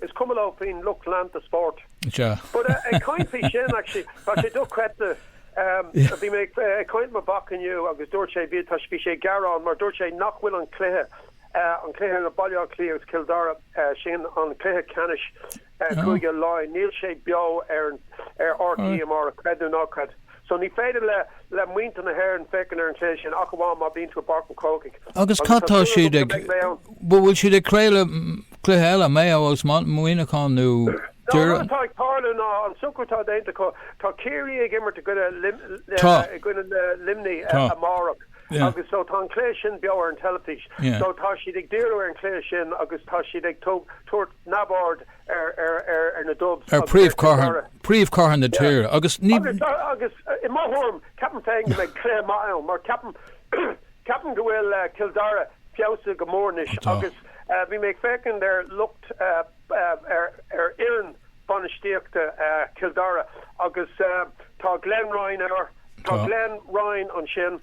Is cuma leo faoin lucht leanta spóirt. Sea. But eh, ag caint faoi sin, actually, tá sé do-chreidte. Em, bhí mé ag eh, caint le mo mhac inniu agus dúirt sé, bhí, tá, bhí sé ag gearán mar dúirt sé nach bhfuil an cluiche, eh, an cluiche idir Baile Átha Cliath agus Cill Dara, eh, sin an cluiche ceannais, eh, Cúige Laighean, níl sé beo ar, ar RTÉ, creid nó ná creid. So ní féidir le le muintir na hÉireann féachaint ar an cluiche sin ach amháin má bhíonn tú i bPáirc an Chrócaigh. Agus cad tá siad ag, bhuel bhfuil siad ag craoladh cluiche eile, Mayo is Muineachán nó. An rud atá ag tarlú ná an socrú atá déanta acu, tá Ciarraí ag imirt i gcoinne i gcoinne Luimnigh amárach agus so tá an cluiche sin beo ar an teilifís so tá siad ag díriú ar an cluiche sin agus tá siad ag tabhairt Neamhaird ar na Dubs ar agus ar Ted Doherty. príomhchathair na tíre agus ní. Agus i mo thuairim, ceapaim féin go mbeidh cluiche maith ann mar ceapaim ceapaim go bhfuil Cill Dara feabhsaithe go mór anois Tá. agus bhí mé ag féachaint ar lucht ar ar fhoireann bainistíochta Chill Dara agus tá Glenn Ryan ar tá Tá. Glenn Ryan ansin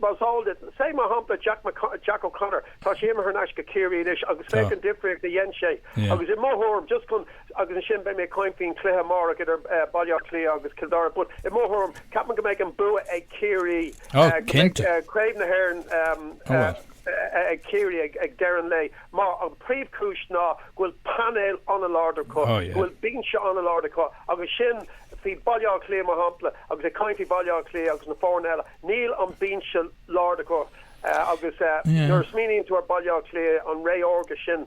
Más eol duit, féach mar shampla Jack, Jack O'Connor, tá sé imithe thar n-ais go Ciarraí anois agus féach an difríocht a dhein sé agus i mo thuairim, just chun, agus ansin beidh mé ag caint faoin chluiche amárach idir Baile Átha Cliath agus Cill Dara but i mo thuairim, ceapaim go mbeidh an bua ag Ciarraí, go mbeidh craobh na hÉireann ag Ciarraí ag deireadh an lae mar an príomhchúis ná go bhfuil painéal an-láidir acu, go bhfuil binse an-láidir acu agus sin, faoi Baile Átha Cliath mar shampla, agus ag caint faoi Bhaile Átha Cliath agus na foirne eile, Níl an binse láidir acu agus nuair a smaoiníonn tú ar Baile Átha Cliath, an ré órga sin,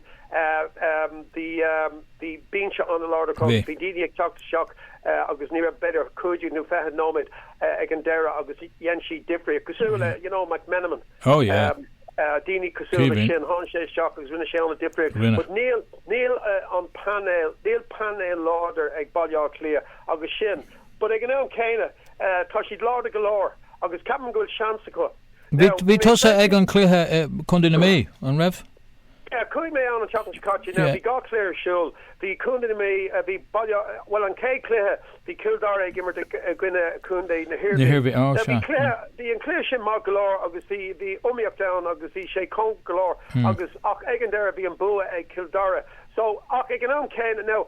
bhí binse an-láidir acu. Bhí daoine ag teacht isteach agus ní raibh b'fhéidir cúig déag nó fiche nóiméad ag an deireadh agus dhein siad difríocht. Cosúil le, you know, McMenamin, daoine cosúil le sin, tháinig sé isteach agus rinne sé an-difríocht. But níl an painéal, níl painéal láidir ag Baile Átha Cliath agus sin, But ag an am céanna, tá siad láidir go leor agus ceapaim go bhfuil seans acu. Now, Bhí tusa ag an cluiche i Contae na Mí, an raibh? Yeah, chuaigh mé ann an tseachtain seo caite. Now, bhí dhá chluiche ar siúl. Bhí Contae na Mí, bhí Baile, bhuel, an chéad chluiche, bhí Cill Dara ag imirt i gcoinne Contae na hIarmhí. Now, bhí cluiche, bhí an cluiche sin maith go leor agus bhí, bhí iomaíocht ann agus bhí sé cóngarach go leor agus, ach ag an deireadh, bhí an bua ag Cill Dara. So, ach ag an am céanna, now,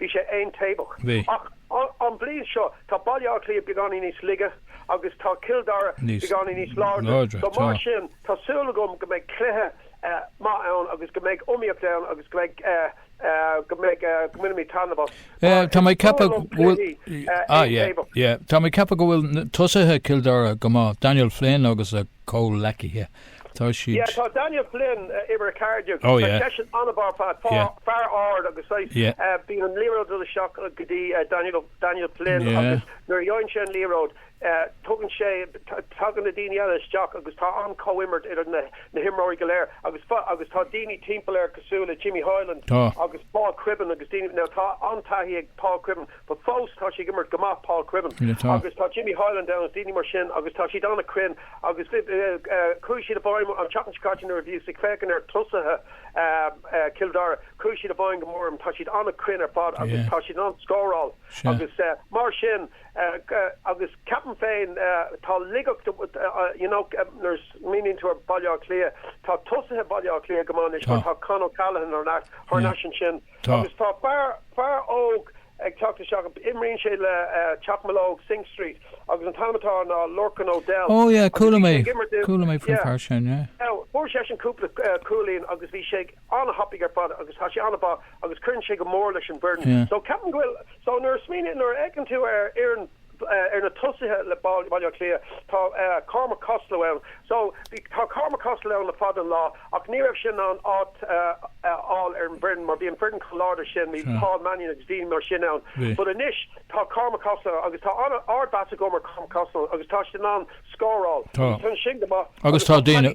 Bhí sé aontaobhach. Bhí. Ach an bhliain seo, tá Baile Átha Cliath beagáinín níos laige agus tá Cill Dara beagáinín níos láidre. Láidre, tá. Mar sin, tá súil agam go mbeidh cluiche maith ann agus go mbeidh iomaíocht ann agus go mbeidh, go mbeidh, go mbainfimid taitneamh as. Mar is fuath liom cluichí aontaobhacha. Tá mé ag ceapadh go bhfuil tosaithe Chill Dara go maith, Daniel Flynn agus a chomhleacaithe. Tá siad. Yeah, tá Daniel Flynn, uimhir a ceathair déag, tá seisean an-mhaith, fear mór ard agus saghas, bíonn an liathróid ag dul isteach go dtí Daniel Flynn agus nuair a gheobhann sé an liathróid, tugann sé, tagann na daoine eile isteach agus tá an-chomhimirt idir na himreoirí go léir agus, agus tá daoine timpeall air cosúil le Jimmy Hyland agus Paul Cribbin agus daoine, now tá an-taithí ag Paul Cribbin. But fós tá sé ag imirt go maith, Paul Cribbin. Agus tá Jimmy Hyland ann, agus daoine mar sin agus tá siad an-chruinn agus chuaigh siad i bhfeidhm an tseachtain seo caite nuair a bhíos ag féachaint ar tosaithe Chill Dara, chuaigh siad i bhfeidhm go mór orm. Tá siad an-chruinn ar fad agus tá siad in ann scóráil agus mar sin agus ceapaim féin tá laigeacht, you know nuair a smaoiníonn tú ar Bhaile Átha Cliath, tá tosaithe Bhaile Átha Cliath go maith anois mar tá Con O'Callaghan thar n-ais ansin. Agus tá fear, fear óg ag teacht isteach, imríonn sé le Teach Mealóg, Synge Street, agus an t-ainm atá air ná Lorcan O'Dell. Ó yeah, chuala mé, chuala mé faoin fear sin, yeah. Now, fuair seisean cúpla cúilín agus bhí sé an-thapaidh ar fad agus tá sé an-mhaith agus cuireann sé go mór leis an bhfoireann. So ceapaim go bhfuil, so nuair a smaoiníonn, nuair a fheiceann tú ar fhoireann, Ar na tosaithe le Baile Átha Cliath, tá Cormac Costello ann. Tá Cormac Costello ann le fada an lá ach ní raibh sé in ann áit a fháil ar an bhfoireann mar bhí an foireann chomh láidir sin, bhí Paul Mannion agus daoine mar sin ann. But anois tá Cormac Costello ann agus tá ardmheas agam ar Cormac Costello agus tá siad in ann scóráil. Tá. Tá an líne sin go maith. Agus tá daoine,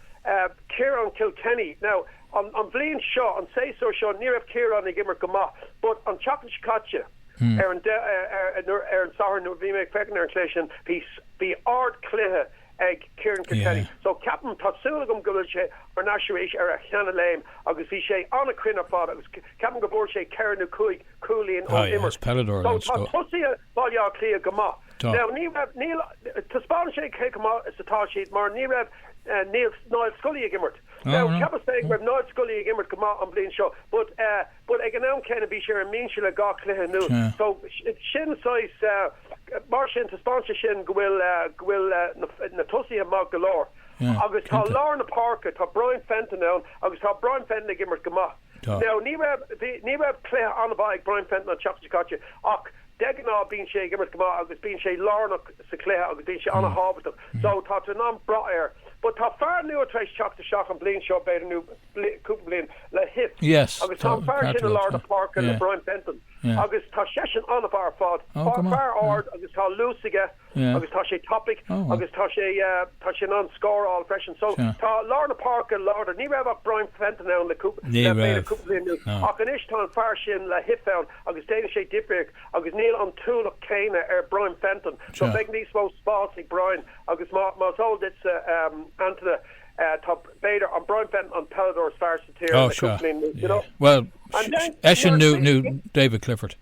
Ciarán Kilkenny, Now, an bhliain seo, an séasúr seo, ní raibh Ciarán ag imirt go maith but an tseachtain seo caite, ar an ar an Satharn nuair a bhí mé ag féachaint ar an cluiche sin, bhí, bhí ard-chluiche ag Ciarán Kilkenny. So, ceapaim, tá súil agam go bhfuil sé ar ais arís ar a sheana-léim agus bhí sé an-chruinn ar fad agus ceapaim go bhfuair sé ceithre nó cúig chúilín ón imirt. So, tá tosaithe. Baile Átha Cliath go maith. Now ní raibh, níl, taispeánann sé cé chomh maith is atá siad mar ní raibh, níl Niall Scully ag imirt. Now cheapas féin go raibh Niall Scully ag imirt go maith an bhliain seo but, but ag an am céanna bhí sé ar an mbinse le dhá chluiche anuas so sin saghas, mar sin taispeánann sé sin go bhfuil, go bhfuil na tosaithe maith go leor. Agus tá lár na páirce, tá Brian Fenton ann agus tá Brian Fenton ag imirt go maith. Tá. Now, ní raibh, bhí, ní raibh cluiche an-mhaith ag Brian Fenton an tseachtain seo caite ach de ghnáth bíonn sé ag imirt go maith agus bíonn sé lárnach sa chluiche agus bíonn sé an-tábhachtach. So, tá tú in ann brath air. But tá fear nua tar éis teacht isteach an bhliain seo, b'fhéidir, nó bli, cúpla bliain, Lahiff. Yes, Agus tá tá, an fear sin i ceart, lár tá. na páirce le Yeah. Brian Fenton Yeah. agus tá seisean an-mhaith ar fad. Oh, Fear, go maith, fear yeah. ard agus tá luas aige agus tá sé tapaidh agus tá sé tá sé in ann scóráil freisin so tá lár na páirce láidir ní raibh ach Brian Fenton ann le cúpla ní raibh cúpla bliain anuas ach anois tá an fear sin Lahiff ann agus déanann sé difríocht agus níl an t-ualach céanna ar Brian Fenton so beidh níos mó spás ag Brian agus mar is eol duitse Antaine tá b'fhéidir an Brian Fenton an peileadóir is fearr sa tír le cúpla bliain anuas you know well eisean nó David Clifford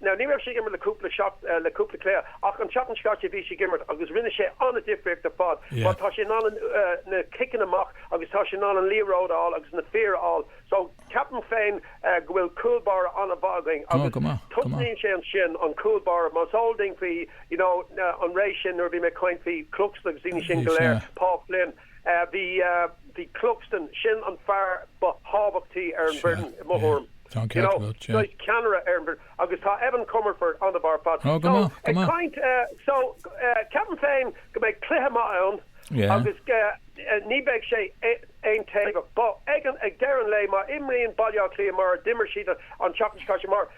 Now ní raibh sé ag imirt le cúpla seach, le cúpla cluiche, ach an tseachtain seo caite bhí sé ag imirt agus rinne sé an-difríocht ar fad mar tá sé in ann na ciceanna amach agus tá sé in ann an liathróid a fháil agus na fir a fháil so ceapaim féin go bhfuil cúl báire an-mhaith againn agus tosnaíonn sé ansin, an cúl báire, mar is eol dúinn faoi, you know, an ré sin nuair a bhí mé ag caint faoi Cluxton agus daoine sin go léir, Paul Flynn. Bhí Cluxton, sin an fear ba thábhachtaí ar an bhfoireann i mo thuairim, saghas ceannaire ar an bhfoireann, agus tá Evan Comerford an-mhaith ar fad. So, ag caint, so, ceapaim féin go mbeidh cluiche maith ann agus ní bheidh sé aontaobhach. But, ag deireadh an lae, má imríonn Baile Átha Cliath mar a d'imir siad an tseachtain seo caite, mar.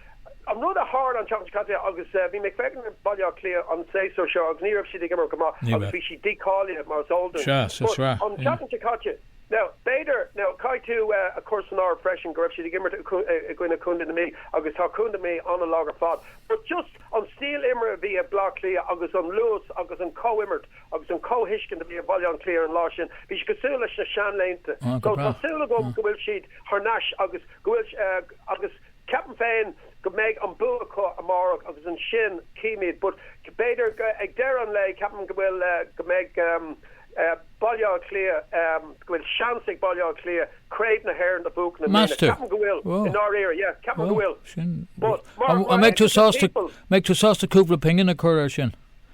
An rud a tharla an tseachtain seo caite, agus bhí mé ag féachaint ar Bhaile Átha Cliath an séasúr seo agus ní raibh siad ag imirt go maith agus bhí siad dícháilithe mar is eol dúinn, but an tseachtain seo caite, now b'fhéidir, now caithfidh tú a chur san áireamh freisin go raibh siad ag imirt i gcoinne Chontae na Mí agus tá Contae na Mí an-lag ar fad but just an stíl imeartha a bhí ag Bleá Cliath agus an luas agus an chomhimirt agus an chomhthuiscint a bhí ag Baile Átha Cliath ar an lá sin, bhí siad cosúil leis na seanlaethanta, so tá súil agam go bhfuil siad thar n-ais agus go bhfuil, agus. Ceapaim féin go mbeidh an bua acu amárach agus ansin címid but b'fhéidir ag deireadh an lae ceapaim go bhfuil, go mbeidh Baile Átha Cliath, go bhfuil seans ag Baile Átha Cliath Craobh na hÉireann a bhuachan i mbliana. Meas tú? Ceapaim go bhfuil, i Ó, ndáiríre. Yeah, ceapaim go ó, bhfuil. sin rud. But An mar, an mar mbeidh tú equitable sásta, people. mbeidh tú sásta cúpla pingin a chur air sin?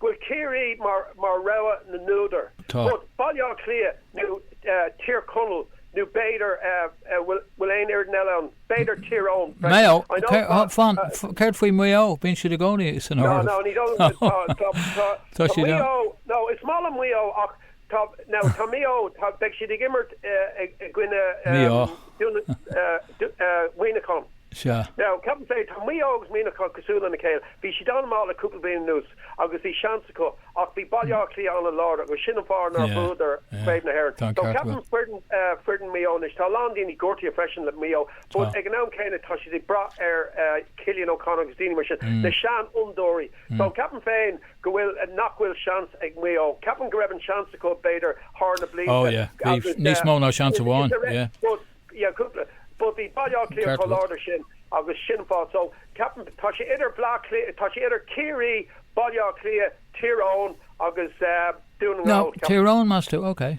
go bhfuil Ciarraí mar rogha na n-údar, but Baile Átha Cliath nó Tír Chonaill nó b'fhéidir, bhfuil aon fhoireann eile ann? b'fhéidir Tír Eoghain freisin. Céard faoi Mhaigh Eo? Bíonn siad i gcónaí san áireamh. Tá siad ann. Is maith liom Maigh Eo ach Tá, now, tá Maigh Eo, tá, beidh siad ag imirt i gcoinne Mhuineachán. Sea. Now, ceapaim féin, tá Maigh Eo agus Muineachán cosúil lena chéile. Bhí siad an-mhaith le cúpla bliain anuas agus bhí seans acu ach bhí Baile Átha Cliath an-láidir agus sin an fáth nár bhuadar Craobh na hÉireann. So, ceapaim foireann, foireann Maigh Eo anois, tá a lán daoine gortaithe freisin le Maigh Eo but ag an am céanna tá siad ag brath ar Chillian O'Connor agus daoine mar sin, na seanfhondúirí. So, ceapaim féin, go bhfuil, nach bhfuil seans ag Maigh Eo. Ceapaim go raibh an seans acu, b'fhéidir, thar na blianta agus, eh, bhí níos mó ná seans amháin, yeah, but, yeah, cúpla, but bhí Baile Átha Cliath chomh láidir sin agus sin an fáth, so, ceapaim, tá sé idir Bleá Cliath, tá sé idir Ciarraí, Baile Átha Cliath, Tír Eoghain agus, eh, Dún na nGall, ceapaim. No, Tír Eoghain meas tú, okay.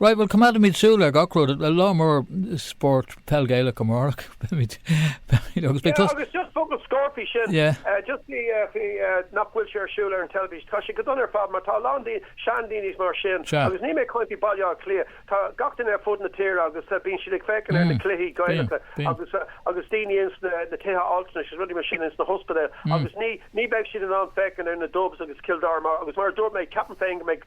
Right, bhuel, coimeádaimid súil ar gach rud, lá mór spórt peil Ghaelach amárach, beimid, beimid, agus beidh tos. Yeah, agus just focal scoir faoi sin, just faoi, faoi nach bhfuil sé ar siúl ar an teilifís, tá sé go dona ar fad, mar tá a lán daoine, seandaoine is mar sin, agus níl mé ag caint faoi Bhaile Átha Cliath, tá gach duine ar fud na tíre agus bíonn siad ag féachaint ar na cluichí Gaelacha agus, agus daoine ins na, na tithe altranais is rudaí mar sin ins na hospidéil agus ní, ní bheidh siad in ann féachaint ar na Dubs agus Cill Dara mar, agus mar a dúirt mé, ceapaim féin go mbeidh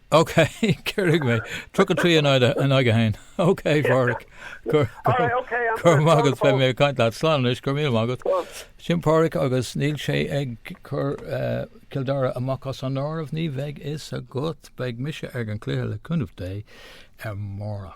OK, cuirfidh mé. Tríocha trí in aghaidh a haon. OK, Pádhraic. Go raibh maith agat, beidh mé ag caint leat. Slán anois, go raibh míle maith agat. Sin Pádhraic agus níl sé ag cur Cill Dara amach as an áireamh. Ní bheidh a fhios agat. Beidh mise ag an cluiche le cúnamh Dé amárach.